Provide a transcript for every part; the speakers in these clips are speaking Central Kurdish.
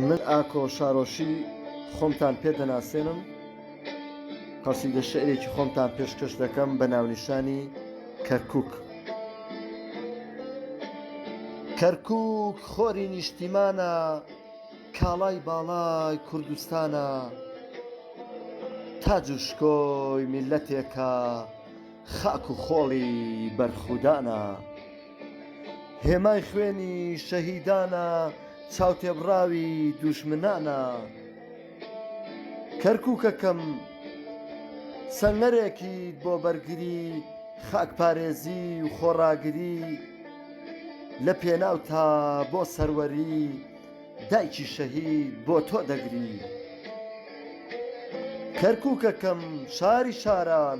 من ئاکۆ شارۆشی خۆمتان پێ دەناسێنم قەسیدە شعرێکی خۆمتان پێشکەش دەکەم بە ناونیشانی کەرکک کەرکک خۆری نیشتیمانە کاڵای باڵای کوردستانە تاج و شکۆی میللەتێکە خاک و خۆڵی بەرخودانە هێمای خوێنی شەهیدانە چاوتێبڕاوی دوژمنانە کەرکووکەکەم سەنگەرێکی بۆ بەرگری خاکپارێزی و خۆڕاگری لە پێناو تا بۆ سەروەری دایکی شەهید بۆ تۆ دەگری کەرکووکەکەم شاری شاران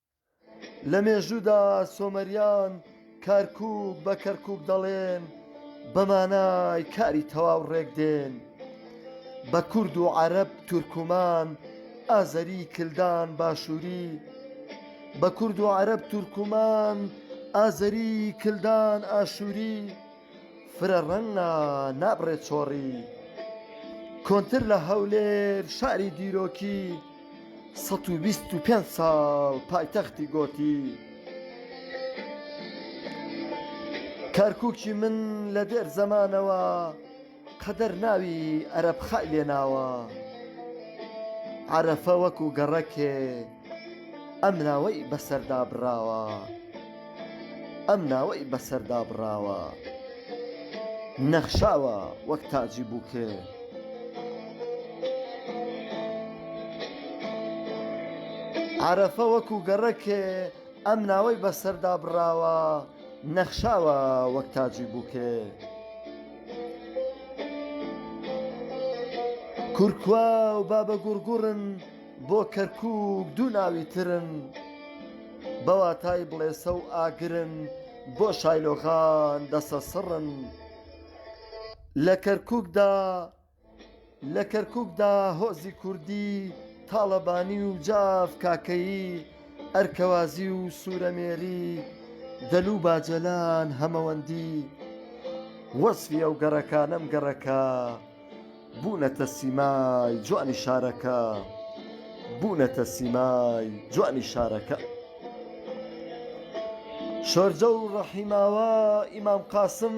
لە مێژوودا سۆمەریان کارکووک بە کەرکووک دەڵێن بە مانای کاری تەواو ڕێک دێن بە کورد و عەرەب تورکمان ئازەری کلدان باشووری بە کورد و عەرەب تورکمان ئازەری کلدان ئاشووری فرە ڕەنگ نا نابڕێ چۆڕی کۆنتر لە هەولێر شاری دیرۆکی 125 ساڵ پایتەختی گۆتی کەرککی من لە دێر زەمانەوە قەدەر ناوی ئەرەبخەء لێناوە. عەرەفە وەکو گەڕەکێ ئەم ناوەی بەسەردا بڕاوە. ئەم ناوەی بەسەردا بڕاوە. نەخشاوە وەک تاجی بووکێ. عەرەفە وەکو گەڕەکێ ئەم ناوەی بەسەردا بڕاوە. نەخشاوە وەک تاجی بووکێ. کورکوا و بابەگوڕگوڕن بۆ کەرکووک دوو ناوی ترن بە واتای بڵێسە و ئاگرن بۆ شایلۆغان دەسەسڕن لە کەرکووکدا لە کەرکوکدا هۆزی کوردی تاڵەبانی و جاف کاکەیی ئەرکەوازی و سورەمێری دەلوو باجەلان هەمەوەندی وەسفی ئەو گەڕەکانەم گەڕەکە بوونەتە سیمای جوانی شارەکە بوونەتە سیمای جوانی شارەکە شۆرجە و ڕەحیماوا ئیمام قاسم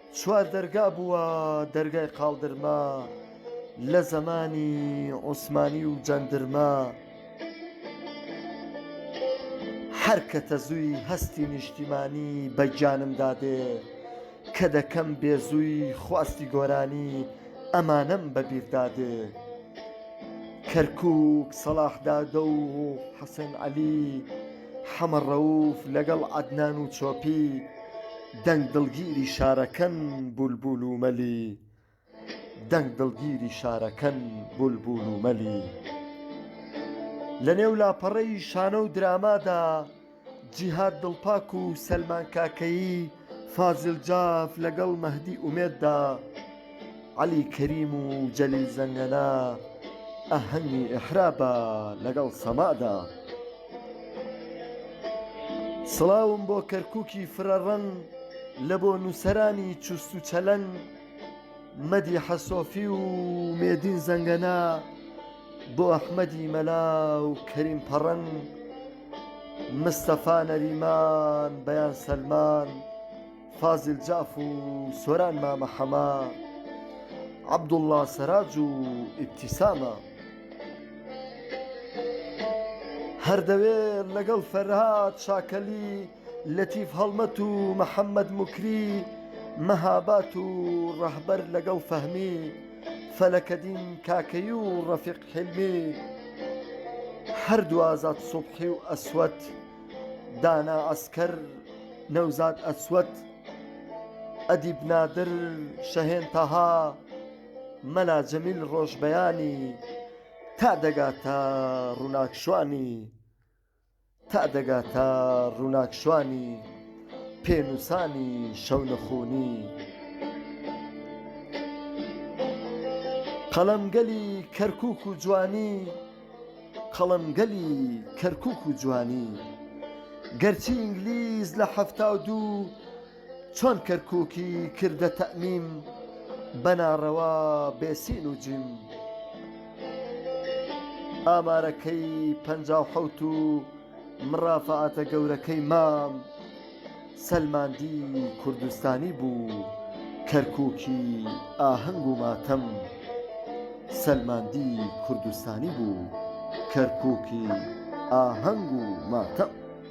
چوار دەرگا بووە دەرگای قاڵدرمە لە زەمانی عوسمانی و جەندرمە هەر کە تەزووی هەستی نیشتیمانی بە گیانمدا دێ کە دەکەم بێزووی خواستی گۆرانی ئەمانەم بە بیردا دێ کەرکووک سەڵاح دادە و حەسەن عەلی حەمە ڕەووف لەگەڵ عەدنان و چۆپی دەنگ دڵگیری شارەکەن بولبول و مەلی دەنگ دڵگیری شارەکەن بولبول و مەلی لەنێو لاپەڕەی شانۆ و درامادا جیهاد دڵپاک و سەلمان کاکەیی فازیل جاف لەگەڵ مەهدی ئومێددا عەلی کەریم و جەلیل زەنگەنە ئاهەنگی ئیحرا بە لەگەڵ سەمادا سڵاوم بۆ کەرککی فرەڕەنگ لە بۆ نووسەرانی چوست و چەلەنگ مەدی حەسۆفی و مێدین زەنگەنە بۆ ئەحمەدی مەلا و کەریم پەڕەنگ مستەفا نەریمان، بەیان سەلمان، فازیل جاف و سۆران مامە حەمە، عەبدوڵڵا سەراج و ئیبتیسامە. هەر دەوێت لەگەڵ فەرهاد شاکەلی، لەتیف هەڵمەت و محەممەد موکری، مەهاباد و ڕەهبەر لەگەڵ فەهمی، فەلەکەدین کاکەیی و ڕەفیق حیلمی هەردوو ئازاد سوبحی و ئەسوەد دانا عەسکەر نەوزاد ئەسوەد ئەدیب نادر شەهێن تەها مەلا جەمیل ڕۆژبەیانی تا دەگاتە ڕووناکشوانی تا دەگا تا ڕووناک شوانی پێ نووسانی شەونخوونی قەڵەمگەلی کەرکووک و جوانی قەڵەمگەلی کەرکووک و جوانی گەرچی ئینگلیز لە حەفتا و دوو چۆن کەرکوکی کردە تەئمیم بە ناڕەوا بێ سین و جیم ئامارەکەی پەنجا و حەوت و مڕافعاتە گەورەکەی مام سەلماندی کوردستانی بوو کەرکوکی ئاهەنگ و ماتەم سەلماندی کوردستانی بوو کەرکوکی ئاهەنگ و ماتەم.